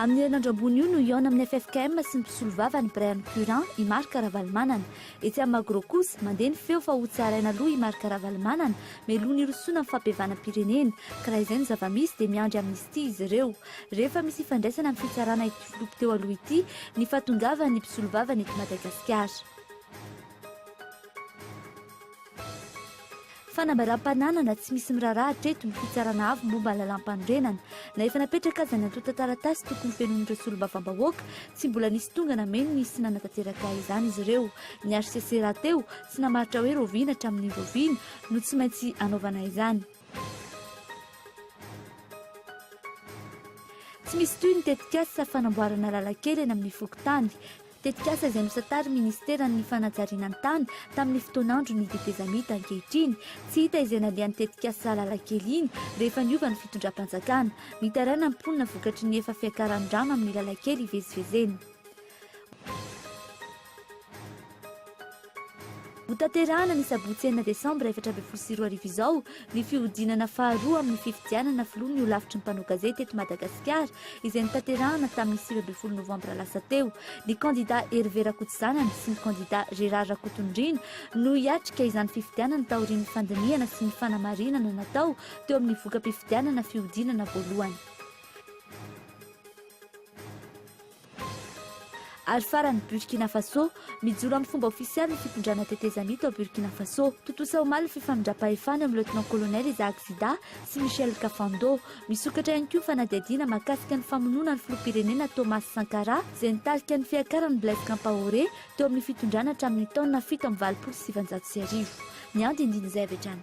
Amin'ny herinandro ambony io no hihaona amin'ny ffkm sy ny mpisolovava ny birain'ny Curan, i Marc Ravalomanana. Etsy amin'ny Magro kosa, mandeha ny feo fa hotsaraina aloha i Marc Ravalomanana, mialoha ny hirosoana amin'ny fampihavanam-pirenena, ka raha izay no zava-misy dia miandry amnistie izy ireo. Rehefa misy ifandraisana amin'ny fitsarana i. Filoha teo aloha ity ny fahatongavan'ny mpisolovava ny eto Madagasikara. Fanambaram-pananana tsy misy miraharaha hatreto ny fitsarana avo momba ny lalàmpanorenana. Na efa napetraka aza ny antontan-taratasy tokony hofenoin'ireo solombavambahoaka, tsy mbola nisy tonga nameno ny sy nanatanteraka izany izy ireo. Ny hcc rahateo tsy namaritra hoe rahoviana hatramin'ny rahoviana no tsy maintsy hanaovana izany. Tsy misy toy ny tetikasa fanamboarana lalan-kely eny amin'ny fokontany. Tetikasa izay nosantarin'ny minisiteran'ny fanajariana ny tany tamin'ny fotoan'andron'ny tetezamita ankehitriny. Tsy hita izay nandeha ny tetikasa lalan-kely iny rehefa niova ny fitondram-panjakana. Mitaraina ny mponina vokatry ny efa fiakaran'ny rano amin'ny lalan-kely ivezivezena. Ho tanterahana ny sabotsy enina desambra efatra ambin'ny folo sy roa arivo izao ny fihodinana faharoa amin'ny fifidianana filoha ny holafitry ny mpanao gazety eto Madagasikara izay notanterahana tamin'ny sivy ambin'ny folo novambra lasa teo. Ny kandidà Hervé Rakotozanana sy ny kandidà Gérard Rakotondriana no hiatrika izany fifidianana taorian'ny fandinihana sy ny fanamarinana natao teo amin'ny voka-pifidianana fihodinana voalohany. Ary farany, Burkina Faso, Mijoro amin'ny fomba ofisialy ny fitondrana tetezamita ao Burkina Faso. Tontosa omaly ny fifanindram-pahefana eo amin'ny Lieutenant-Colonel Isaac Zida sy Michel Kafando. Misokatra ihany koa ny fanadihadiana mahakasika ny famonoana ny filoham-pirenena Thomas Sankara izay nitarika ny fiakaran'i Blaise Kampaoré teo amin'ny fitondrana hatramin'ny taona fito amby valopolo sy sivinjato sy arivo. Ny andinindin'izay avy hatrany.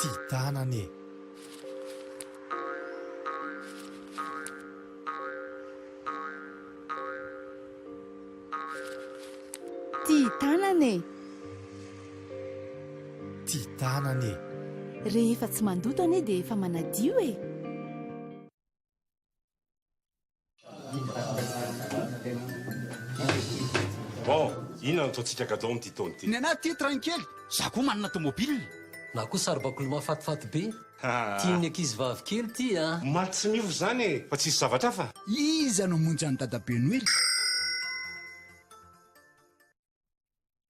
Ty tanana e! Ty tanana e! Ty tanana e! Rehefa tsy mandoto anie dia efa manadio e! Bon, inona no ataontsika gadon amin'ity taona ity? Ny anah tia train kely, za koa manana tomobile. Na koa saribakoly mahafatifaty be. Tian'ny ankizivavy kely ity a. Omaly tsy miova izany e, fa tsisy zavatra hafa? Iza no hamonjy an'i dadabe noely?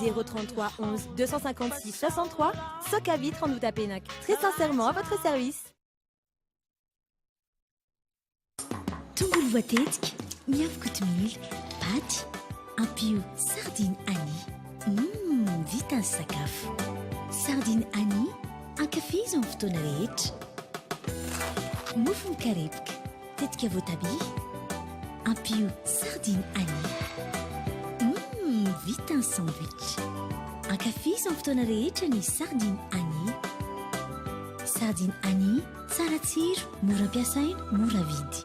033 11 256 63 Soka Vitre en Outapenac. Très sincèrement à votre service. Tongolo voatetika, miavy kotomila, paty, ampio sardine Annie. Mmm, vita ny sakafo. Sardine Annie, ankafizo amin'ny fotoana rehetra. Mofo mikarepoka. Tetika voatabia, ampio sardine ail. Mmm, vita ny sandwich! Ankafizo amin'ny fotoana rehetra ny sardine ail. Sardine ail, tsara tsiro, mora ampiasaina, mora vidy.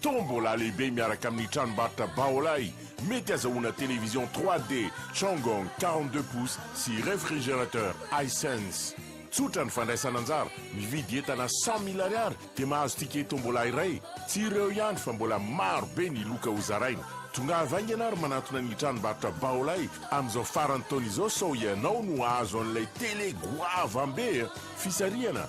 Tombola lehibe miaraka amin'ny tranombarotra Baolai, mety azahoana télévision 3D Changong quarante deux pouces sy réfrigérateur Hisense. Tsotra ny fandraisana anjara, mividy entana cent mille ariary dia mahazo ticket tombola iray. Tsy ireo ihany fa mbola maro be ny loka ho zaraina. Tongava haingana ary manantona ny tranombarotra Baolai amin'izao faran'ny taona izao sao ianao no hahazo an'ilay télé goavambe e! Fisarihana!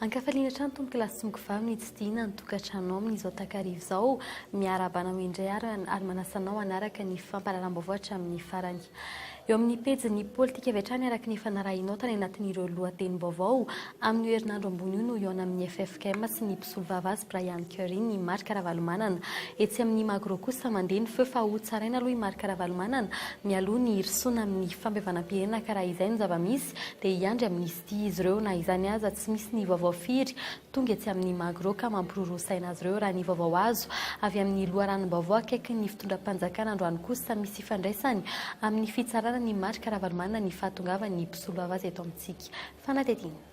Ankafaliana hatrany Tompo kilasy Mkvah mitsidihina ny tokantranonao amin'izao takariva izao. Miarahaba anao indray ary ary manasa anao hanaraka ny fampahalalam-baovao hatramin'ny farany. Eo amin'ny pejin'ny politika avy hatrany araka ny efa narahinao tany anatin'ireo lohatenim-baovao, amin'io herinandro ambony io no hihaona amin'ny ffkm sy ny mpisolovava azy Brian Curry ny Marc Ravalomanana. Etsy amin'ny Magro kosa mandeha ny feo fa hotsaraina aloha i Marc Ravalomanana mialoha ny hirosoana amin'ny fampihavanam-pirenena ka raha izay no zava-misy dia hiandry amin'ny dia izy ireo na izany aza tsy misy ny vaovao firy tonga etsy amin'ny Magro ka mampiroroa saina azy ireo raha ny vaovao azo avy amin'ny loharanom-baovao akaikin'ny fitondram-panjakana androany kosa misy ifandraisany amin'ny fitsarana ny Marc Ravalomanana ny fahatongavan'ny mpisoloava azy eto amintsika fanadihadiana.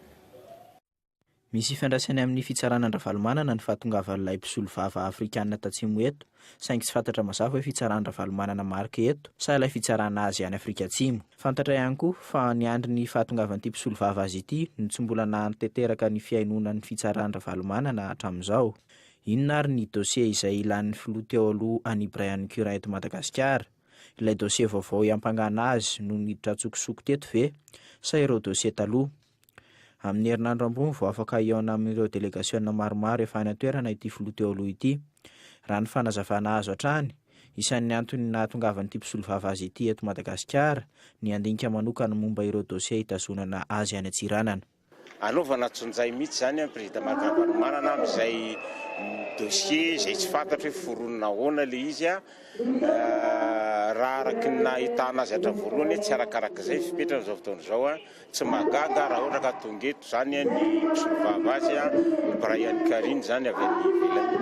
Misy ifandraisany amin'ny fitsarana an-dRavalomanana ny fahatongavan'ilay mpisolovava afrikana tatsimo eto, saingy tsy fantatra mazava hoe fitsaran-dRavalomanana Marc eto sa ilay fitsarana azy any Afrika Atsimo. Fantatra ihany koa fa niandry ny fahatongavan'ity mpisolovava azy ity no tsy mbola nahatanteraka ny fihainoana ny fitsaran-dRavalomanana hatramin'izao. Inona ary ny dossier izay ilan'ny filoha teo aloha an'i Brian Currin eto Madagasikara? Ilay dossier vaovao iampangana azy no niditra an-tsokosoko teto ve sa ireo dossier taloha? Amin'ny herinandro ambony vao afaka hihaona amin'ireo delegasiona maromaro efa any an-toerana ity filoha teo aloha ity. Raha ny fanazavana azo hatrany, isan'ny antony nahatongavan'ity mpisolovava azy ity eto Madagasikara ny handinika manokana momba ireo dosie hitazonana azy any Antsiranana. Anaovana tsonjay mihitsy izany an, Président Marc Ravalomanana amin'izay dosie izay tsy fantatro hoe foronina ahoana ilay izy an. Raha araka ny nahitana azy hatramin'ny voalohany, tsy arakarak'izay ny fipetrany izao fotoana izao an. Tsy mahagaga raha ohatra ka tonga eto izany ny mpisolovava azy ny Bryan Karyn izany avy any ivelany.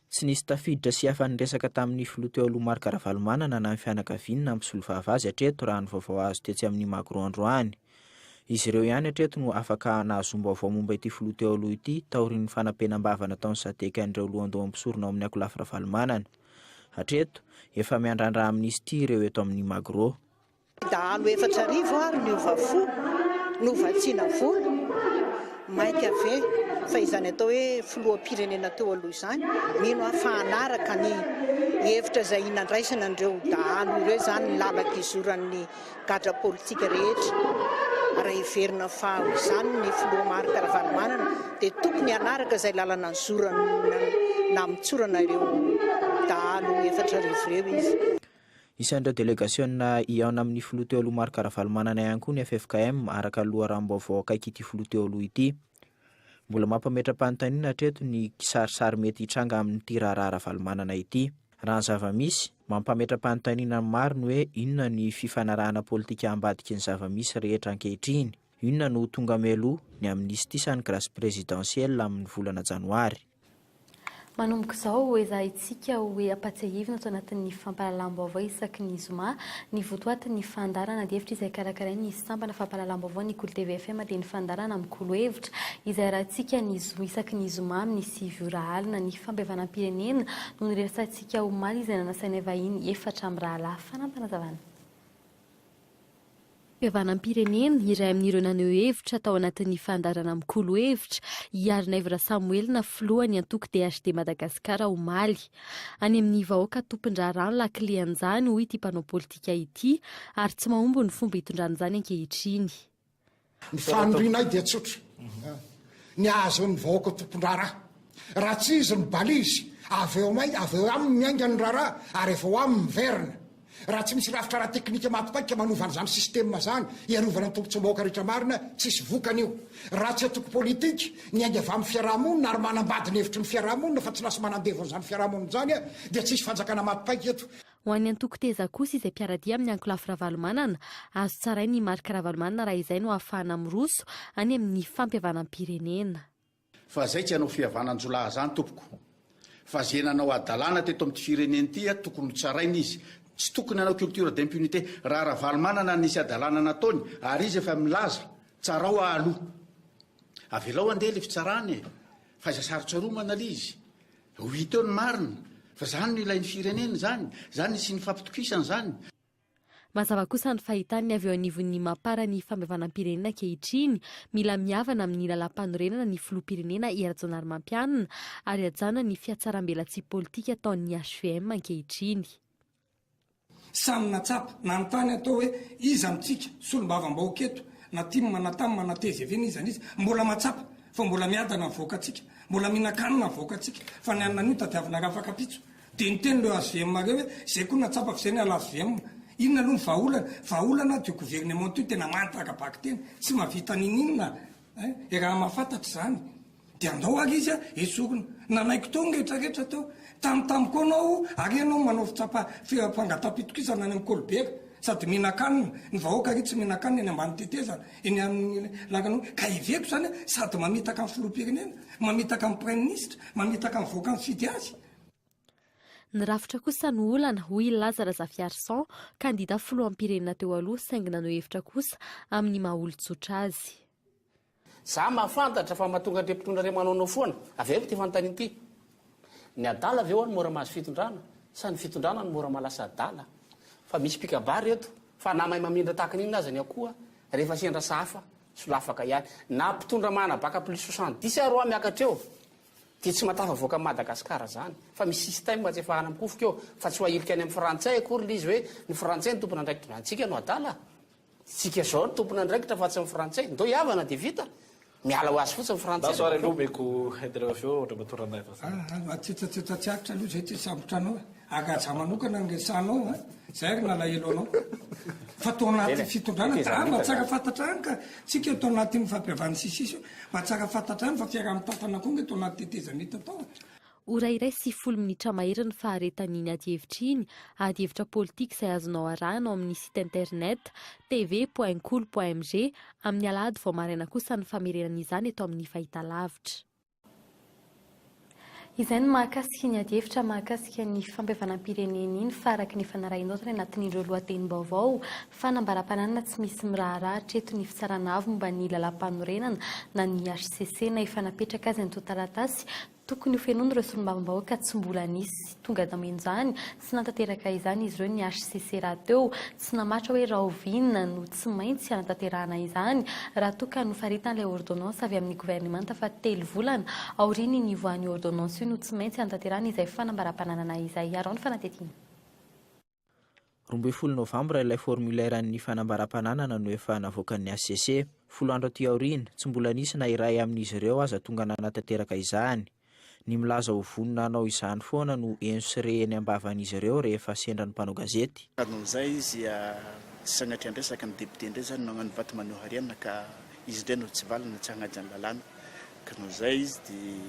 Tsy nisy tafiditra sy afa-niresaka tamin'ny filoha teo aloha Marc Ravalomanana na ny fianakaviany na ny mpisolovava azy hatreto raha ny vaovao azo tetsy amin'ny Magro androany. Izy ireo ihany hatreto no afaka nahazoam-baovao momba ity filoha teo aloha ity taorian'ny fanampenam-bava nataon'ny Sadec an'ireo lohandoha mpisorona ao amin'ny Akolafy Ravalomanana. Hatreto, efa miandrandra amnistie ireo eto amin'ny Magro. Dahalo efatra arivo ary niova fo, novatsiana volo, mainka ve fa izany atao hoe filoham-pirenena teo aloha izany? Mino aho fa hanaraka ny hevitra izay nandraisana an'ireo dahalo ireo izany ny lalaka izoran'ny gadra politika rehetra. Raha heverina fa ho izany ny filoha Marc Ravalomanana dia tokony hanaraka izay lalana nizorana namotsorana ireo dahalo efatra arivo ireo izy. Isan'ireo delegasiona hihaona amin'ny filoha teo aloha Marc Ravalomanana ihany koa ny ffkm, araka ny loharanom-baovao akaiky ity filoha teo aloha ity. Mbola mampametra-panontaniana hatreto ny kisarisary mety hitranga amin'ity raharaha Ravalomanana ity. Raha ny zava-misy, mampametra-panontaniana ny maro ny hoe inona ny fifanarahana politika ambadiky ny zava-misy rehetra ankehitriny. Inona no ho tonga mialoha, ny amnistie sa ny grâce présidentielle amin'ny volana janoary? Manomboka izao, hoezahintsika ho ampatsiahivina ato anatin'ny fampahalalam-baovao isaky ny zoma, ny votoatin'ny fandaharana adihevitra izay karakarain'ny sampana fampahalalam-baovao ny Kolo TV FM dia ny fandaharana Mikolo hevitra izay arahintsika ny zoma isaky ny zoma amin'ny sivy ora alina. Ny fampihavanam-pirenena no niresahantsika omaly izay nanasainay vahiny efatra mirahalahy. Fanampinazavana. Fihavanam-pirenena, iray amin'ireo naneho hevitra tao anatin'ny fandaharana mikolo hevitra i Arinaivo Rasamoelina filohan'ny antoko DHD Madagasikara omaly. Any amin'ny vahoaka tompon-draharaha ny lakile an'izany hoy ity mpanao politika ity ary tsy mahomby ny fomba itondrany izany ankehitriny. Ny fanirianay dia tsotra, ny hahazoan'ny vahoaka tompon-draharaha. Raha tsy izy ny balizy, avy eo aminy, avy eo aminy miainga ny raharaha ary avy eo aminy miverina. Raha tsy misy rafitra ara-teknika mapipaika manova an'izany sistema izany hiarovana ny tombotsoam-bahoaka rehetra marina, tsy hisy vokany io. Raha tsy antoko politika, niainga avy amin'ny fiarahamonina ary manambady ny hevitry ny fiarahamonina fa tsy lasa manandevo an'izany fiarahamonina izany dia tsy hisy fanjakana mapipaika eto. Ho an'ny antoko Teza kosa izay mpiara-dia amin'ny ankolafy Ravalomanana, azo tsaraina i Marc Ravalomanana raha izay no ahafahana miroso any amin'ny fampihavanam-pirenena. Fa zay tsy hanao fihavananjolahy zany tompoko. Fa ze nanao hadalana teto amty firenena ity a tokony ho tsaraina izy. Tsy tokony hanao culture d'impunité. Raha Ravalomanana nisy hadalana nataony ary izy efa milaza, tsarao ahalou. Avelao handeha le fitsarana e. Faiza sarotsaromana le izy. Ho hita eo ny marina, fa izany no ilain'ny firenena izany, izany no hisian'ny fampitokisana izany. Mazava kosa ny fahitany ny avy eo anivon'ny Mapar ny fampihavanam-pirenena ankehitriny, mila mihavana amin'ny lalàmpanorenana ny filoham-pirenena I Rajaonarimampianina ary hajanona ny fihatsarambelatsihy politika ataon'ny HVM ankehitriny. Samy natsapa, nanontany ato hoe iza amintsika, solombavambahoaka eto, na tim na tam na tgv na iza na iza, mbola matsapa fa mbola miadana ny vahoakantsika, mbola mihinan-kanina ny vahoakantsika, fa ny anona anio tadiavinareo afakapitso. Dia niteny leo hvm mareo hoe izay koa natsapa f'izay ny ala hvm. Inona aloha ny vahaolana? Vahaolana ato io gouvernement io tena manta ara-bakiteny, tsy mahavita n'ininona eh! Raha mahafantatra izany, Dia andao ary izy esorina. Nanaiky teo ny retraretra teo. Tamintamy koa anao ary ianao manao fitsapa fangatampitokisana any amin'ny kolibera. Sady mihinan-kanina. Ny vahoaka ary tsy mihinan-kanina eny ambany tetezana, eny amin'ny lakan'omby. Ka heveko izany hoe sady mamitaka ny filoham-pirenena, mamitaka ny praiminisitra, mamitaka ny vahoaka mifidy azy. Ny rafitra kosa no olana, hoy i Laza Razafiarison, kandida filoham-pirenena teo aloha saingy naneho hevitra kosa amin'ny maha-olon-tsotra azy. Za mahafantatra fa mahatonga an'ireo mpitondra ireo manaonao foana. Avy aiza ity fanontaniana ity? Ny adala ve ho'a no mora mahazo fitondrana? Sa ny fitondrana no mora mahalasa adala? Fa misy mpikabary eto fa na mahay mamindra tahaka ny inona aza ny akoha, rehefa sendra sahafa, solafaka ihany. Na mpitondra mahanabaka plus soixante dix ary ho'a miakatra eo, dia tsy mahatafavoaka an'i Madagasikara zany. Fa misy système atsefahana amikofoka eo, fa tsy ho ahilika any amin'ny frantsay akory ilay izy hoe ny frantsay no tompon'andraikitra. Antsika no adala? Tsika zao ry tompon andraikitra fa tsy ny frantsay. Ndao hihavana dia vita. Miala ho azy fotsiny frantsay. Ndaso ary aloha omeko intervention Andriamatoa Ranaivo Azafady. Ah ah matsetsatsetsa tsy aritra aloha zay ty sambotra anao e. Agaja manokana ny resahanao a. Zay ry nalahelo anao. Fa tao anaty fitondrana de ah mba tsara fantatra any ka tsika eo tao anatin'ny fampihavan'ny sisisy io. Mba tsara fantatra any fa fiaraha-mitantana koa nge tao anaty tetezamita tao e. Ora iray sy folo minitra mahery ny faharetan'iny adihevitra iny, adihevitra politika izay azonao arahana ao amin'ny site internet tv point kolo point mg, amin'ny alahady vao maraina kosa ny famerenana izany eto amin'ny fahitalavitra. Izay ny mahakasika iny adihevitra mahakasika ny fampihavanam-pirenena iny fa araka ny efa narahinao tany anatin'ireo lohatenim-baovao, fanambaram-pananana tsy misy miraharaha hatreto ny Fitsarana Avo momba ny Lalàmpanorenana na ny hcc na efa napetraka aza ny tonta-taratasy Tokony ho fenoin'ireo solombavambahoaka tsy mbola nisy tonga tamin'izany, tsy nahatanteraka izany izy ireo ny hcc rahateo tsy namatra hoe rahoviana no tsy maintsy hanatanterahana izany raha toa ka nofaritan'ilay ôrdônansy avy amin'ny governemanta fa telo volana aorian'ny nivoahan'io ôrdônansy io no tsy maintsy hanatanterahana izay fanambaram-pananana izay. Araho ny fanatetiana. Roa ambin'ny folo novambra ilay formulaire an'ny fanambaram-pananana no efa navoakan'ny hcc. Folo andro aty aoriana, tsy mbola nisy na iray amin'izy ireo aza tonga nanatanteraka izany. Ny milaza ho vonona hanao izany foana no henso sy re eny am-bavan'izy ireo rehefa sendra ny mpanao gazety. Noho izay izy sanatria andresaka ny député indray izany no hagnano vady maneho harena ka izy indray no tsy valiny na tsy hagnaja ny lalàna. Ka noho izay izy dia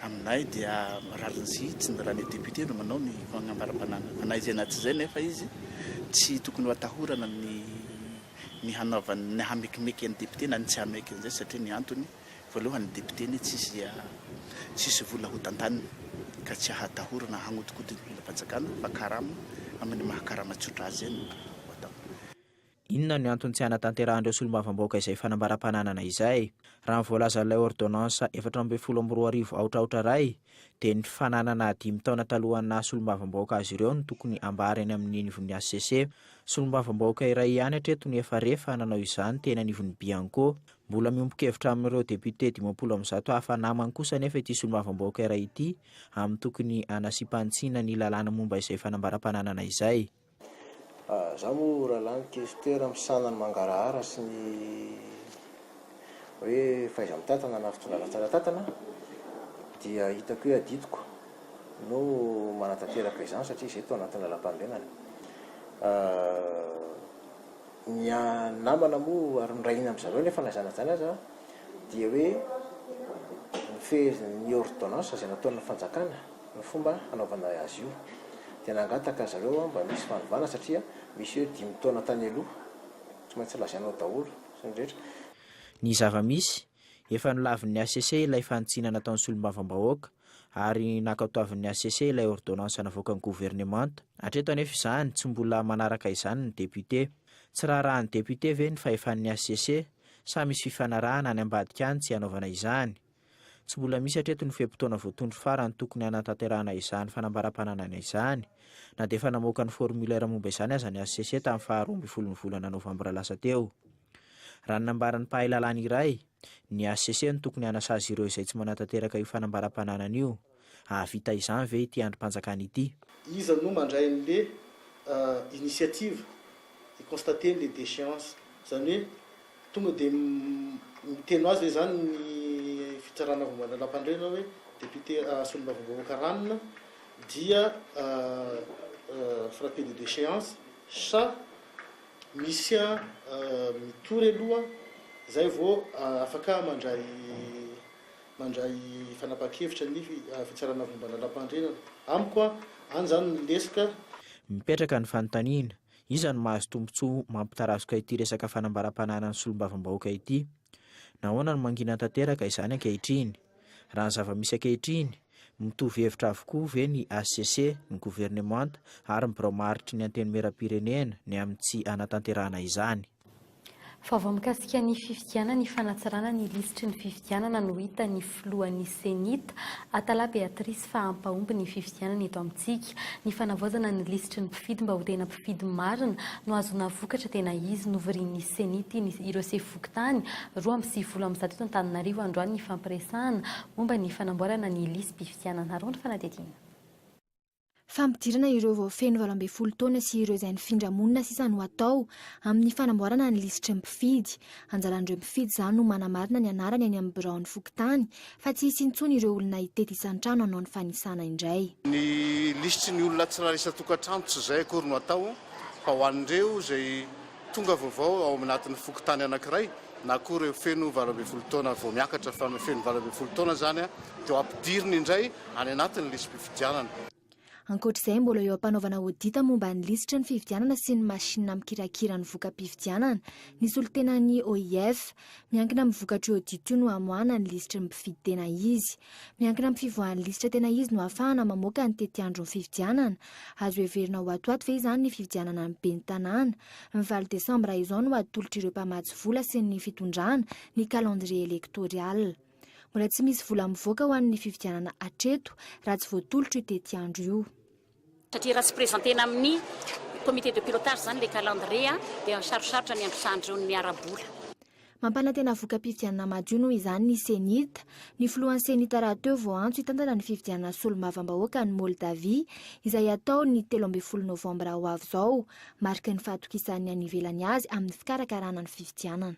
aminay dia rariny tsy ny rany député no manao ny fanambaram-pananana fa na izay na tsy izay nefa izy tsy tokony ho atahorana ny ny hanaovany ny hamekimeky an'i député na ny tsy hameky an'izay satria ny antony voalohany ny député anie tsisy tsisy vola hotantaniny ka tsy ahatahorana hagnodikodina ny volam-panjakana fa karama amin'ny maha karama tsotra azy izay no atao. Inona no antony tsy hanatanterahan'ireo solombavambahoaka izay fanambaram-pananana izay? Raha ny voalazan'ilay ôrdônansa efatra ambin'ny folo amby roa arivo aotra aotra iray, dia ny fananana dimy taona talohan'ny naha solombavambahoaka azy ireo no tokony hambara eny amin'ny anivon'ny hcc. Solombavambahoaka iray ihany hatreto no efa re fa nanao izany teny anivon'ny Bianco. Mbola miombon-kevitra amin'ireo depiote dimampolo amin'ny zato hafa namany kosa anefa ity solombavambahoaka iray ity amin'ny tokony hanasiam-panitsiana ny lalàna momba izay fanambaram-pananana izay. Za moa ralah ny questeur misahana ny mangarahara sy ny hoe fahaiza mitatana na fitondrana ratsana tatana dia hitako hoe adidiko no manatanteraka izany satria izay tao anatin'ny lalampanorenana. Ny namana moa ary mirahina amin-dry zareo nefa na izany na izany aza dia hoe ny fehezin'ny ordonnance izay nataon'ny fanjakana. ny fomba hanaovana azy io dia nangataka ry zareo mba misy fanovana satria misy hoe dimy taona tany aloha, tsy maintsy lazainao daholo ny rehetra. Ny zava-misy, efa nolavin'ny hcc ilay fanitsiana nataon'ny solombavambahoaka ary nankatoavin'ny hcc ilay ôrdônansa navoakan'ny governemanta, hatreto anefa izany tsy mbola manaraka izany ny depiote. Tsy raharahan'ny depiote ve ny fahefan'ny hcc sa misy fifanarahana any ambadika any tsy hanaovana izany? Tsy mbola misy hatreto ny fe-potoana voatondro farany tokony hanatanterahana izany fanambaram-pananana izany, na dia efa namoaka ny formulaire momba izany aza ny hcc tamin'ny faha roa ambin'ny folon'ny volana novambra lasa teo. Raha ny nambaran'ny mpahay lalàna iray, ny hcc no tokony hanasazy ireo izay tsy manatanteraka io fanambaram-pananana io. Hahavita izany ve ity andrim-panjakana ity? Iza no mandray an'le initiative hi-constater le dechéance? Zany hoe tonga de miteny ho azy ve zany ny fitsarana vao mbola lampandrena hoe député solombavambahoaka ranona dia frappé de déchéance sa misy mitory aloha zay vao afaka mandray mandray fanapahan-kevitra ny fitsarana vomba lalam-pahendrenana. Amiko an, any izany ny lesoka. Mipetraka ny fanontaniana, iza no mahazo tombontsoa mampitarazoka ity resaka fanambaram-pananan'ny solombavambahoaka ity? Nahoana no mangina tanteraka izany ankehitriny? Raha ny zava-misy ankehitriny, mitovy hevitra avokoa ve ny hcc, ny governemanta ary ny birao maharitry ny antenimieram-pirenena ny amin'ny tsy hanatanterahana izany? Vaovao mikasika ny fifidianana ifanatsarana ny lisitry ny fifidianana no hita ny filohan'ny Cenit, Atala Beatrice fa hampahomby ny fifidianana eto amintsika. Ny fanavaozana ny lisitry ny mpifidy mba ho tena mpifidy marina no hahazoana vokatra tena izy. Novorian'ny Cenit ireo sefo fokontany roa amby sivifolo amin'ny zato eto Antananarivo androany ny fampiresahana momba ny fanamboarana ny lisi-pifidianana. Arao ny fanadihadiana. fampidirana ireo vao feno valo ambin'ny folo taona sy ireo izay nifindra monina sisa no atao amin'ny fanamboarana ny lisitry ny mpifidy. Anjaran'ireo mpifidy izany no manamarina ny anarany eny amin'ny biraon'ny fokontany fa tsy hisy intsony ireo olona hitety isan-trano hanao ny fanisana indray. Ny lisitry ny olona tsirairay isan-tokantrano tsy izay akory no atao fa ho an'ireo izay Tonga vaovao ao anatin'ny fokontany anankiray na koa ireo feno valo ambin'ny folo taona vao miakatra fa ny feno valo ambin'ny folo taona izany dia ho ampidirina indray any anatin'ny lisi-pifidianana. Ankoatra izay, mbola eo am-panaovana audit momba ny lisitra ny fifidianana sy ny masinina mikirakira ny voka-pifidianana. Ny solontenan'ny OIF. Miankina amin'ny vokatr'io audit io no hamoahana ny lisitry ny mpifidy tena izy. Miankina amin'ny fivoahan'ny lisitra tena izy no hahafahana mamoaka ny tetiandron'ny fifidianana Azo heverina ho ato ho ato ve izany ny fifidianana ny ben'ny tanàna? Ny valo desambra izao no atolotr'ireo mpamatsy vola sy ny fitondrana ny calendrier électorial. Mbola tsy misy vola mivoaka ho an'ny fifidianana hatreto raha tsy voatolotro io tetiandro io. Satria raha tsy presentena amin'ny comité de pilotage izany ilay calendrier dia sarosarotra ny handrosahan'ireo ny miara-bola. Mampanantena voka-pifidianana madio noho izany ny Cenit. Ny filohan'ny Cenit rahateo vao antso hitantana ny fifidianana solombavambahoaka any Moldavia, izay hatao ny telo ambin'ny folo novambra ho avy izao, mariky ny fahatokisan'ny any ivelany azy amin'ny fikarakarana ny fifidianana.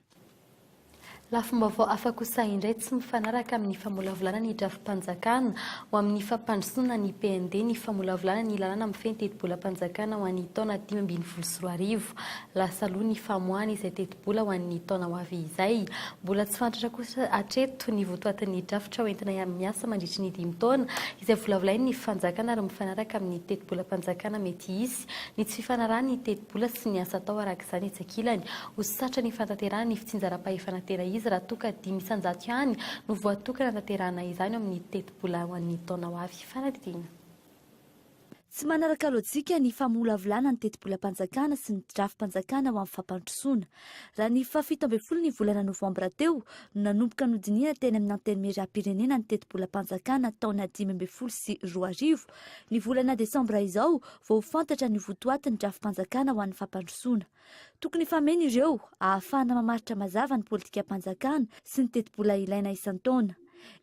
Lafim-baovao hafa kosa indray tsy mifanaraka amin'ny famolavolana ny drafi-panjakana ho amin'ny fampandrosoana ny PND ny famolavolana ny lalàna mifehy ny tetibolam-panjakana ho an'ny taona dimy ambin'ny folo sy roa arivo. Lasa aloha ny famoahana izay tetibola. Mbola ho an'ny taona ho avy izay. Mbola tsy fantatra kosa hatreto ny votoatin'ny drafitra ho entina hiara-miasa mandritry ny dimy taona izay volavolain'ny fanjakana ary mifanaraka amin'ny tetibolam-panjakana mety hisy ny tsy fifanarahan'ny tetibola sy ny asa atao araka izany etsy ankilany. Ho satra ny fanatanterahana ny fitsinjaram-pahefana tena izy raha toa ka dimy isan-jato ihany no voatokana hanatanterahana izany ao amin'ny tetibola ho an'ny taona ho avy. Fanadihadiana. Tsy manaraka lojika ny famolavolana ny tetibolam-panjakana sy ny drafi-panjakana ho amin'ny fampandrosoana. Raha ny fahafito ambin'ny folo ny volana novambra teo no nanomboka nodinihana teny amin'ny Antenimierampirenena ny tetibolam-panjakana taona dimy ambin'ny folo sy roa arivo, ny volana desambra izao vao ho fantatra ny ho votoatin'ny drafi-panjakana ho an'ny fampandrosoana. Tokony hifameno ireo ahafahana mamaritra mazava ny politikam-panjakana sy ny tetibola ilaina isan-taona.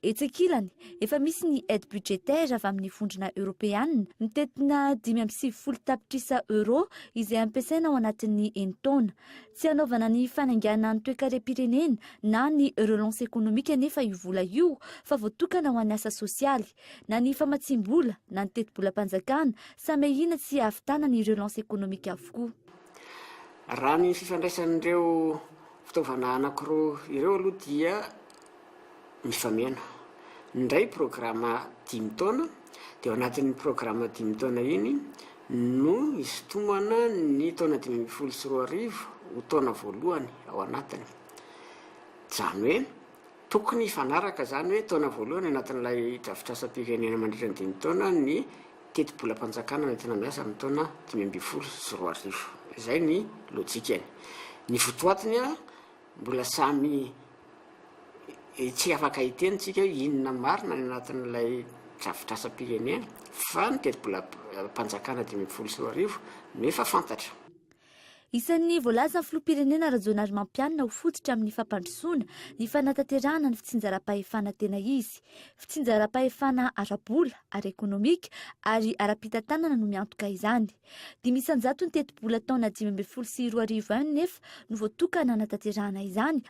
Etsy ankilany, efa misy ny aide budgétaire avy amin'ny Vondrona Eoropeana mitentina dimy amby sivifolo tapitrisa Euro izay ampiasaina ao anatin'ny enin-taona. Tsy hanaovana ny fanainganana ny toekarem-pirenena na ny relance économique anefa io vola io fa voatokana ho an'ny asa sosialy. Na ny famatsiam-bola, na ny tetibolam-panjakana, samy ahiana tsy hahavitana ny relance économique avokoa. Raha ny fifandraisan'ireo fitaovana anankiroa ireo aloha dia mifameno. Ny iray programa dimy taona, dia ao anatin'iny programa dimy taona iny no isintomana ny taona dimy ambin'ny folo sy roa arivo ho taona voalohany ao anatiny. Izany hoe. Tokony hifanaraka izany hoe taona voalohany anatin'ilay drafitrasam-pirenena mandritra ny dimy taona ny tetibolam-panjakana nentina miasa amin'ny taona dimy ambin'ny folo sy roa arivo. Izay ny lojikany. Ny votoatiny, mbola samy tsy afaka hiteny isika hoe inona marina ny anatin'ilay drafitrasam-pirenena fa ny tetibolam-panjakana dimy ambin'ny folo sy roa arivo no efa fantatra. Isan'ny voalazan'ny filoham-pirenena Rajaonarimampianina ho fototra amin'ny fampandrosoana ny fanatanterahana ny fitsinjaram-pahefana tena izy. Fitsinjaram-pahefana ara-bola, ara-ekonomika ary ara-pitantanana no miantoka izany. Dimy isan-jaton'ny tetibola taona dimy ambin'ny folo sy roa arivo nefa no voatokana hanatanterahana izany,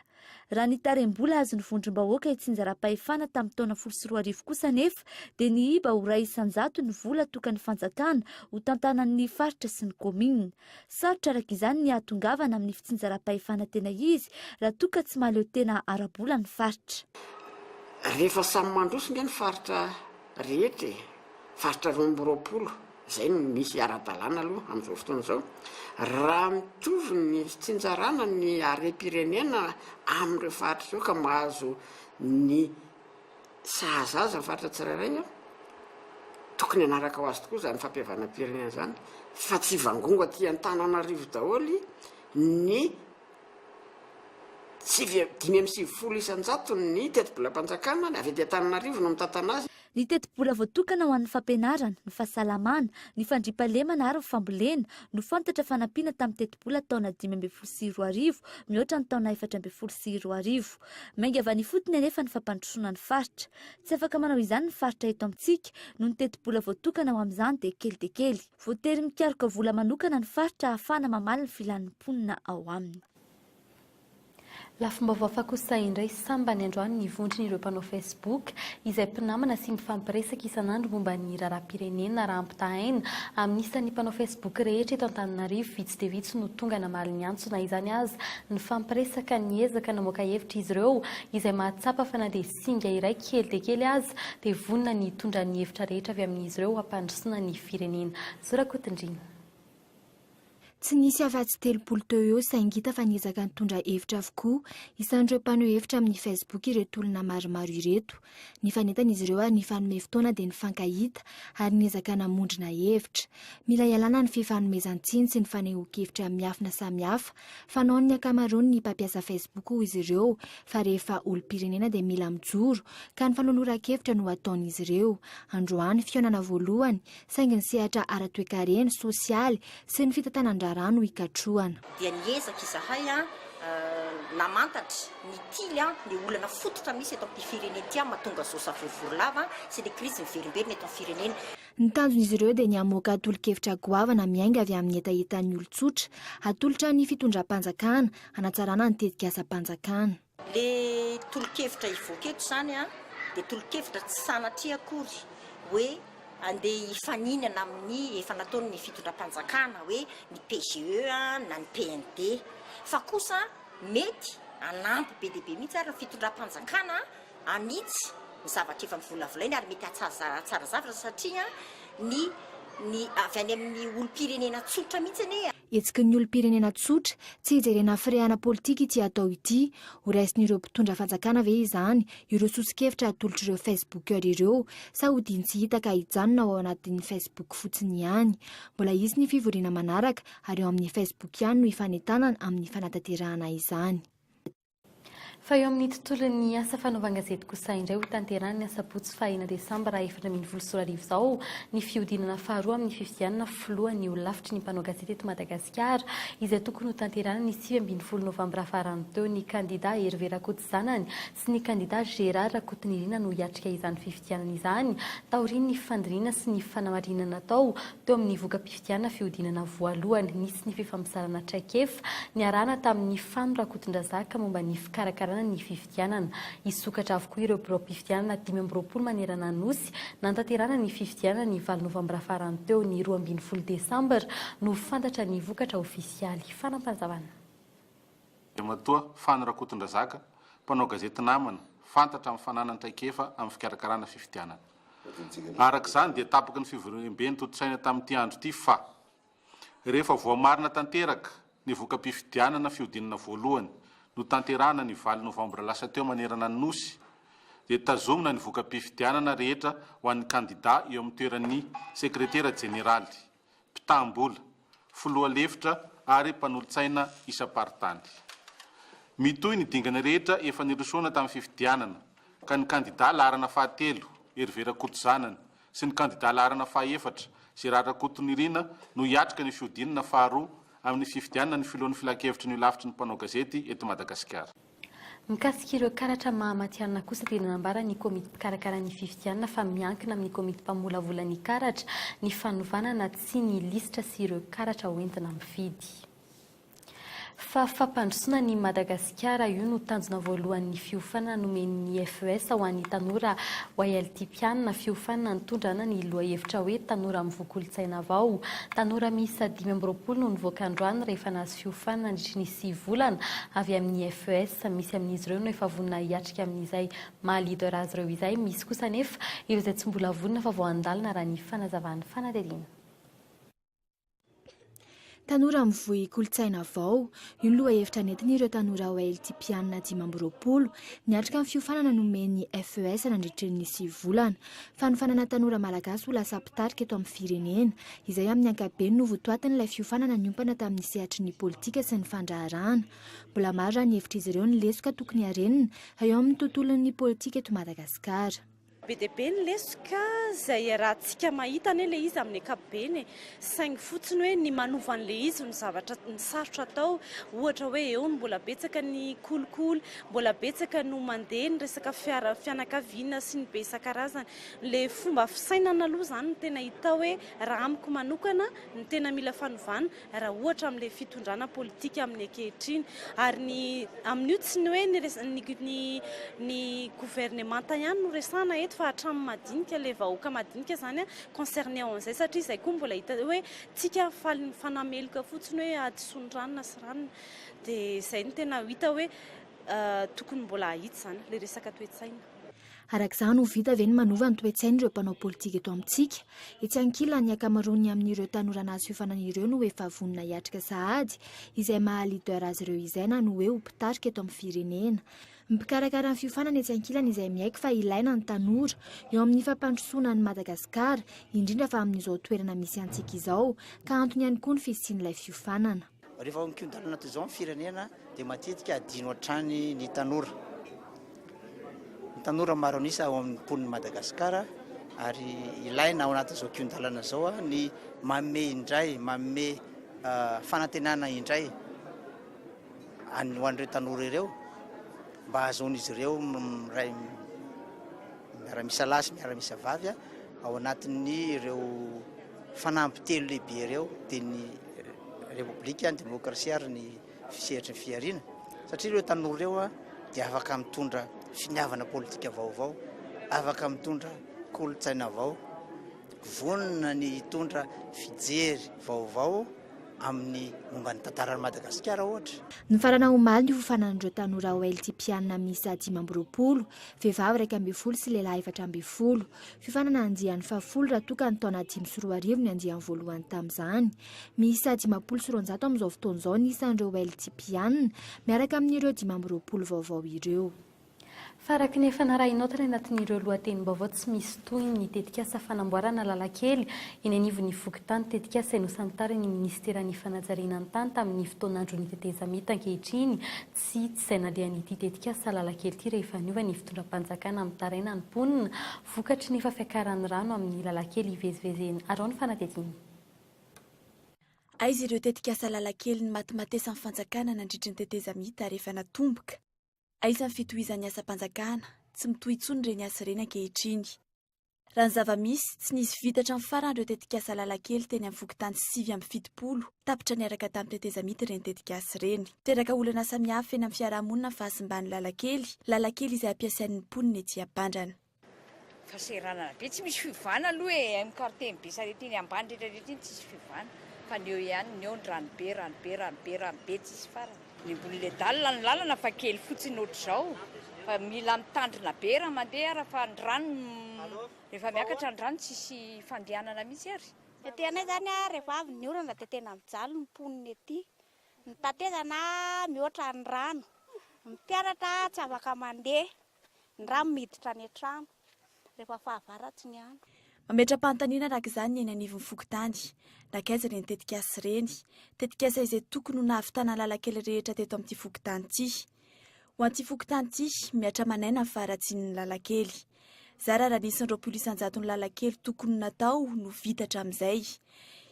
Raha ny tarehi-mbola azon'ny vondrom-bahoaka itsinjaram-pahefana tamin'ny taona folo sy roa arivo kosa anefa dia nihiba ho iray isan-jato ny vola tokan'ny fanjakana ho tantanan'ny faritra sy ny kaominina. Sarotra araka izany ny hahatongavana amin'ny fitsinjaram-pahefana tena izy raha toa ka tsy mahaleo tena ara-bola ny faritra. Rehefa samy mandroso nge ny faritra rehetra e! Faritra roa amby roapolo izay no misy ara-dalàna aloha amin'izao fotoana izao, raha mitovy ny fitsinjarana ny harem-pirenena amin'ireo faritra ireo ka mahazo ny sahaza azy ny faritra tsirairay, tokony hanaraka ho azy tokoa izany fampihavanam-pirenena izany fa tsy hivangongo aty Antananarivo daholo ny sivy, dimy amby sivifolo isan-jaton'ny tetibolam-panjakana, avy aty Antananarivo no mitantana azy. Ny tetibola voatokana ho an'ny fampianarana, ny fahasalamana, ny fandriampahalemana ary ny fambolena no fantatra fa nampiana tamin'ny tetibola taona dimy ambin'ny folo sy roa arivo mihoatra ny taona efatra ambin'ny folo sy roa arivo. Mainga avy any ifotony anefa ny fampandrosoana ny faritra. Tsy afaka manao izany ny faritra eto amintsika noho ny tetibola voatokana ho amin'izany dia kely dia kely. Voatery mikaroka vola manokana ny faritra ahafahana mamaly ny filan'ny mponina ao aminy. Lafim-baovao hafa kosa indray sambany androany ny vondron'ireo mpanao Facebook izay mpinamana sy mifampiresaka isan'andro momba ny raharaham-pirenena raha ampitahaina amin'ny isan'ny mpanao Facebook rehetra eto Antananarivo vitsy dia vitsy no tonga namaly ny antso na izany aza nifampiresaka niezaka namoaka hevitra izy ireo izay mahatsapa fa na dia singa iray kely dia kely aza dia vonona ny hitondra ny hevitra rehetra avy amin'izy ireo hampandrosoana ny firenena Zora Kotondrina. Tsy nisy afa-tsy telopolo teo eo saingy hita fa niezaka nitondra hevitra avokoa isan'ireo mpaneho hevitra amin'ny Facebook ireto olona maromaro ireto. Nifanetan'izy ireo ary nifanome fotoana dia nifankahita ary niezaka namondrona hevitra. Mila ialana ny fifanomezan-tsiny sy ny fanehoan-kevitra miafina samihafa fanaon'ny ankamaroan'ny mpampiasa Facebook hoy izy ireo fa rehefa olom-pirenena dia mila mijoro ka ny fanoloran-kevitra no ataon'izy ireo. Androany, fihaonana voalohany saingy ny sehatra ara-toekarena, sosialy sy ny fitantanan-draharaha no ikatrohana. dia niezaka izahay namantatra ny tily ny olana fototra misy eto amin'ity firenena ity mahatonga izao savorovoro lava sy ilay krizy miverimberina eto amin'ny firenena. Ny tanjon'izy ireo dia ny hamoaka tolo-kevitra goavana miainga avy amin'ny hetahetan'ny olon-tsotra, hatolotra ny fitondram-panjakana, hanatsarana ny tetikasam-panjakana. Le tolokevitra hivoaka eto izany an, dia tolokevitra tsy sanatria akory hoe andeha hifaninana amin'ny efa nataon'ny fitondram-panjakana hoe ny PGE na ny PND, fa kosa mety hanampy be dia be mihitsy ary ny fitondram-panjakana hanitsy ny zavatra efa novolavolainy ary mety hahatsara zavatra satria ny ny avy any amin'ny olom-pirenena tsotra mihitsy anie. Hetsiky ny olom-pirenena tsotra, tsy hijerena firehana politika ity atao ity. Ho raisin'ireo mpitondra fanjakana ve izany ireo soso-kevitra atolotr'ireo Facebookers ireo sa hodiany tsy hita ka hijanona ao anatin'ny Facebook fotsiny ihany? Mbola hisy ny fivoriana manaraka ary ao amin'ny Facebook ihany no hifanentanana amin'ny fanatanterahana izany. Fa eo amin'ny tontolon'ny asa fanaovan-gazety kosa indray hotanterahina ny asabotsy fahahena desambra efatra ambin'ny folo sy roa arivo izao ny fihodinana faharoa amin'ny fifidianana filohan'ny holafitry ny mpanao gazety eto Madagasikara izay tokony hotanterahina ny sivy ambin'ny folo novambra farany teo. Ny kandidà Hervé Rakotozanany sy ny kandidà Gérard Rakotonirina no hiatrika izany fifidianana izany taorian'ny fandinihana sy ny fanamarinana natao Teo amin'ny voka-pifidianana fihodinana voalohany, nisy ny fifampizarana traikefa niarahana tamin'i Fano Rakotondrazaka momba ny fikarakarana ny fifidianana. Hisokatra avokoa ireo biraom-pifidianana dimy amby roapolo manerana Anosy nantanterahana ny fifidianana ny valo novambra farany teo. Ny roa ambin'ny folo desambra no ho fantatra ny vokatra ofisialy. Fanampazavana. Andriamatoa Fano Rakotondrazaka, mpanao gazety namana, fantatra amin'ny fananany traikefa amin'ny fikarakarana fifidianana. Araka izany dia tapaky ny fivoriambe notontosaina tamin'ity andro ity fa, rehefa voamarina tanteraka ny voka-pifidianana fihodinana voalohany notanterahana ny valo novambra lasa teo manerana ny Nosy, dia tazomina ny voka-pifidianana rehetra ho an'ny kandida eo amin'ny toeran'ny sekretera jeneraly. mpitam-bola, filoha lefitra ary mpanolotsaina isam-paritany. Mitohy ny dingana rehetra efa nirosoana tamin'ny fifidianana ka ny kandidà laharana fahatelo, Hervé Rakotozanany, sy ny kandidà laharana fahaefatra, Gérard Rakotonirina, no hiatrika ny fihodinana faharoa amin'ny fifidianana ny filohan'ny Filankevitry ny Holafitry ny Mpanao Gazety eto Madagasikara. Mikasika ireo karatra maha matihanina kosa dia nanambara ny komity mpikarakara ny fifidianana fa miankina amin'ny komity mpamolavola ny karatra ny fanovana na tsia ny lisitra sy ireo karatra hoentina mifidy fa fampandrosoana an'i Madagasikara. Io no tanjona voalohan'ny fiofanana nomen'ny FES ho an'ny tanora YLT mpianina, fiofanana nitondra ana ny lohahevitra hoe Tanora mivoha kolontsaina vao. Tanora miisa dimy amby roapolo no nivoaka androany rehefa fiofana nandritry ny sivy volana avy amin'ny FES. Misy amin'izy ireo no efa vonona hiatrika amin'izay maha leader azy ireo izay, misy kosa anefa ireo izay tsy mbola vonona fa vao handalina raha ny fanazavan'ny fanadihadiana. Tanora mivoy kolontsaina vao, io ny lohahevitra nentin'ireo tanora Hailtipiana dimy amby roapolo, niatrika ny fiofanana nomen'ny FES nandritry ny sivy volana. Fanofanana tanora malagasy ho lasa mpitarika eto amin'ny firenena, izay amin'ny ankapobeny no votoatin'ilay fiofanana niompana tamin'ny sehatry ny politika sy ny fandraharahana. Mbola maro raha ny hevitr'izy ireo ny lesoka tokony harenina eo amin'ny tontolon'ny politika eto Madagasikara. Be dia be ny lesoka izay iarahantsika mahita anie ilay izy amin'ny ankapobeny e. Saingy fotsiny hoe ny manova an'ilay izy no zavatra, ny sarotra atao. Ohatra hoe eo no mbola betsaka ny kolikoly, mbola betsaka no mandeha ny resaka fiara, fianakaviana sy ny be isan-karazany. Ilay fomba fisainana aloha izany no tena hita hoe raha amiko manokana no tena mila fanovana raha ohatra amin'ilay fitondrana politika amin'ny ankehitriny. Ary ny amin'io tsy ny hoe ny res, ny, ny, ny governemanta ihany no resahana eto fa hatramin'ny madinika, ilay vahoaka madinika izany an, concerné ao an'izay satria izay koa mbola hita hoe tsika faly mifanameloka fotsiny hoe hadisoany ranona sy ranona dia izay no tena hita hoe tokony mbola hahitsy izany ilay resaka toe-tsaina. Araka izany, ho vita ve ny manova ny toe-tsain'ireo mpanao politika eto amintsika? Etsy ankilany, ny ankamaroany amin'ireo tanora nahazo fiofanana ireo no efa vonona hiatrika sahady izay maha leader azy ireo izay na ny hoe ho mpitarika eto amin'ny firenena. Mpikarakara ny fiofanana etsy ankilany izay miaiky fa ilaina ny tanora eo amin'ny fampandrosoana an'i Madagasikara, indrindra fa amin'izao toerana misy antsika izao, ka antony ihany koa ny fisian'ilay fiofanana. Rehefa mikodalana toy izao ny firenena dia matetika adino hatrany ny tanora. Ny tanora maro an'isa ao amin'ny mponin'i Madagasikara ary ilaina ao anatin'izao kihon-dalana izao ny manome indray, manome fanantenana indray. any ho an'ireo tanora ireo mba hahazoan'izy ireo miray miara-misalahy sy miara-misavavy ao anatin'ny ireo fanamby telo lehibe ireo dia ny repoblika, ny demokrasia ary ny fisehatry ny fihariana satria ireo tanora ireo dia afaka mitondra finiavana politika vaovao, afaka mitondra kolontsaina vao, vonona ny hitondra fijery vaovao. amin'ny momba ny tantaran'i Madagasikara ohatra. Nifarana omaly ny hofanan'ireo tanora OLTPiana miisa dimy amby roapolo, vehivavy iraika ambin'ny folo sy lehilahy efatra ambin'ny folo. Fiofanana andiany fahafolo raha toa ka ny taona dimy sy roa arivo ny andiany voalohany tamin'izany. Miisa dimampolo sy roanjato amin'izao fotoana izao ny isan'ireo OLTPiana, miaraka amin'ireo dimy amby roapolo vaovao ireo. Fa araka ny efa narahinao tany anatin'ireo lohatenim-baovao tsy misy tohiny ny tetikasa fanamboarana lalan-kely eny anivon'ny fokontany, tetikasa nosantarin'ny minisiteran'ny fanajariana ny tany tamin'ny fotoan'andron'ny tetezamita ankehitriny tsy izay nandehan'ity tetikasa lalan-kely ity rehefa niova ny fitondram-panjakana mitaraina ny mponina vokatry ny efa fiakaran'ny rano amin'ny lalan-kely ivezivezena arao ny fanadihadiana. Aiza ireo tetikasa lalan-kely nimatimatesan'ny fanjakana nandritry ny tetezamita rehefa natomboka? Aiza ny fitohizan'ny asam-panjakana, tsy mitohy intsony ireny asa ireny ankehitriny. Raha ny zava-misy, tsy nisy vita hatramin'ny farany ireo tetikasa lalan-kely teny amin'ny fokontany sivy amby fitopolo, tapitra niaraka tamin'ny tetezamita ireny tetikasa ireny. Teraka olana samihafa eny amin'ny fiarahamonina ny fahasimban'ny lalan-kely, lalan-kely izay ampiasain'ny mponina ety Ampandrana. Fahasahiranana be, tsy misy fiovana aloha e, amin'ny quartier-n'i Besarety iny ambany rehetra rehetra iny tsisy fiovana fa ny eo ihany ny eo ny ranobe, ranobe, ranobe, ranobe tsisy farany. Ny ambon'ilay dalina ny lalana fa kely fotsiny ohatr'izao fa mila mitandrina be raha mandeha ary fa ny rano rehefa miakatra ny rano tsisy fandehanana mihitsy ary. Ety anay izany a, rehefa avy ny orana dia tena mijaly ny mponina ety, ny tatezana mihoatra ny rano, ny mpianatra tsy afaka mandeha. Ny rano miditra any an-trano rehefa fahavaratsy ny andro. Mametra-panontaniana araka izany ny eny anivon'ny fokontany. Nankaiza ireny tetikasa ireny? Tetikasa izay tokony ho nahavitana lalan-kely rehetra teto amin'ity fokontany ity. Ho an'ity fokontany ity, mihatra aman'aina ny faharatsian'ny lalan-kely. Zara raha nisy ny roapolo isan-jaton'ny lalan-kely tokony ho natao no vita hatramin'izay.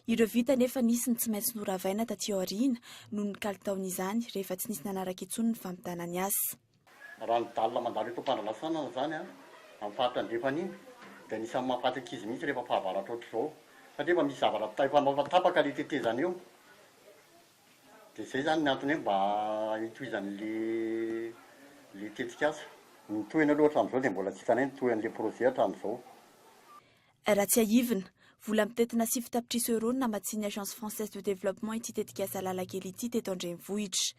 Ireo vita nefa nisy ny tsy maintsy noravaina taty aoriana noho ny kalitaon'izany rehefa tsy nisy nanaraka intsony ny fampitana ny asa. Raha ny dalina mandalo eto Ampandranasanana izany an, amin'ny faritra andrefana iny, dia anisan'ny mahafaty ankizy mihitsy rehefa fahavaratra ohatr'izao. Satria efa misy zavatra ta- efa efa tapaka ilay tetezana eo. Dia izay izany ny antony hoe mba hitohizan'ilay ilay tetikasa. Ny tohiny aloha hatramin'izao dia mbola tsy hitanay ny tohin'ilay projet hatramin'izao. Raha tsiahivina, vola mitentina sivy tapitrisa euros no namatsian'ny Agence Française de Développement ity tetikasa lalan-kely ity teto an-drenivohitra.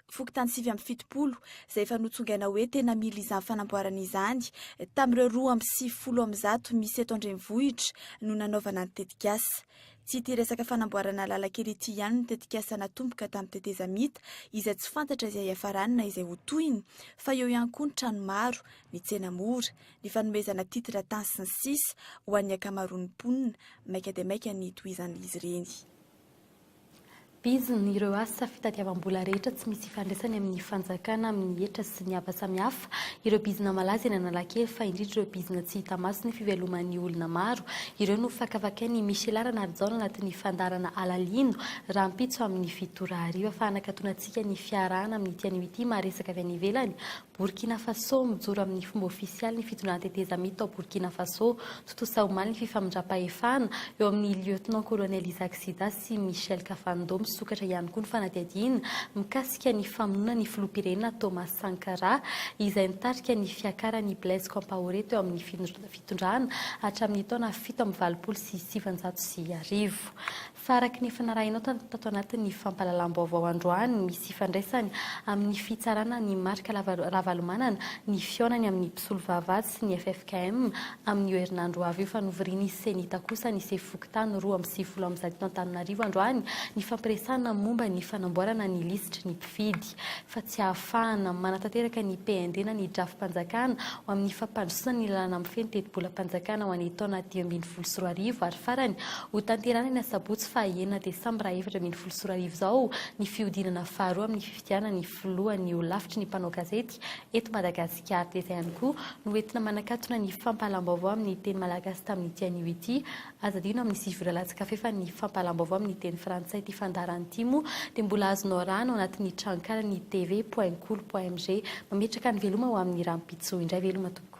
Fokontany sivy amby fitopolo, izay efa notsongaina hoe tena mila izany fanamboarana izany, tamin'ireo roa amby sivifolo amin'ny zato misy eto an-drenivohitra no nanaovana ny tetikasa. Tsy ity resaka fanamboarana lalan-kely ity ihany no tetikasa natomboka tamin'ny tetezamita, izay tsy fantatra izay hiafarany na izay ho tohiny, fa eo ihany koa ny trano maro, ny tsena mora, ny fanomezana titre tany sy ny sisa ho an'ny ankamaroan'ny mponina, maika dia maika ny hitohizan'izy ireny. Bizina ireo asa fitadiavam-bola rehetra tsy misy ifandraisany amin'ny fanjakana, amin'ny hetra sy ny hafa samihafa, ireo bizina malaza eny Analakely fa indrindra ireo bizina tsy hita maso ny fiveloman'ny olona maro, ireo no fakafakain'i Michela Ranarijaona anatin'ny fandaharana Alalino rahampitso amin'ny fito ora hariva fa hanakatona antsika ny fiarahana amin'ity anio ity maha resaka avy any ivelany Borkina Fasô, Mijoro amin'ny fomba ofisialy ny fitondrana tetezamita tao Borkina Fasô, tontosa omaly ny fifamindram-pahefana eo amin'ny Lieutenant-Colonel Isaac Sida sy Michel Kafando. Misokatra ihany koa ny fanadihadiana mikasika ny famonoana ny filoham-pirenena Thomas Sankara, izay nitarika ny fiakaran'i Blaise Compaoré teo amin'ny fitondrana hatramin'ny taona fito amby valopolo sy sivinjato sy arivo. Fa araka ny efa narahinao tato anatin'ny fampahalalam-baovao androany, misy ifandraisany amin'ny fitsarana an'i Marc Ravalomanana ny fihaonany amin'ny mpisolovava sy ny ffkm amin'io herinandro ho avy io fa novorian'ny Cenita kosa ny sefo fokontany roa amby sivifolo amin'izato eto Antananarivo androany ny fampiresahana momba ny fanamboarana ny lisitry ny mpifidy. politika fa tsy ahafahana manatanteraka ny PND na ny drafi-panjakana ho amin'ny fampandrosoana ny lalàna mifehy ny tetibolam-panjakana ho an'ny taona dimy ambin'ny folo sy roa arivo ary farany hotanterahana ny asabotsy faha enina desambra efatra ambin'ny folo sy roa arivo izao ny fihodinana faharoa amin'ny fifidianana ny filohan'ny holafitry ny mpanao gazety eto Madagasikara dia izay ihany koa no entina manakatona ny fampahalaam-baovao amin'ny teny malagasy tamin'ity anio ity Aza adino amin'ny sivy ora latsa-kafe fa ny fampahalam-baovao amin'ny teny frantsay ity fandaharana ity moa dia mbola azonao arahana ao anatin'ny tranonkalan'ny TV point kolo point mg. Mametraka ny veloma ho amin'ny rahampitso indray veloma tompoko.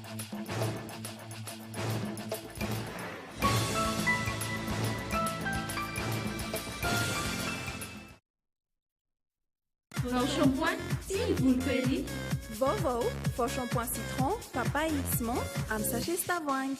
Vao shampoing sy ny volo curly. Vaovao, vao shampoing citron, papay sy menthe amin'ny sachet sy tavoahangy.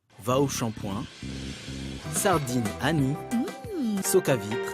Vao shampoing, sardine Annie, soca vitre.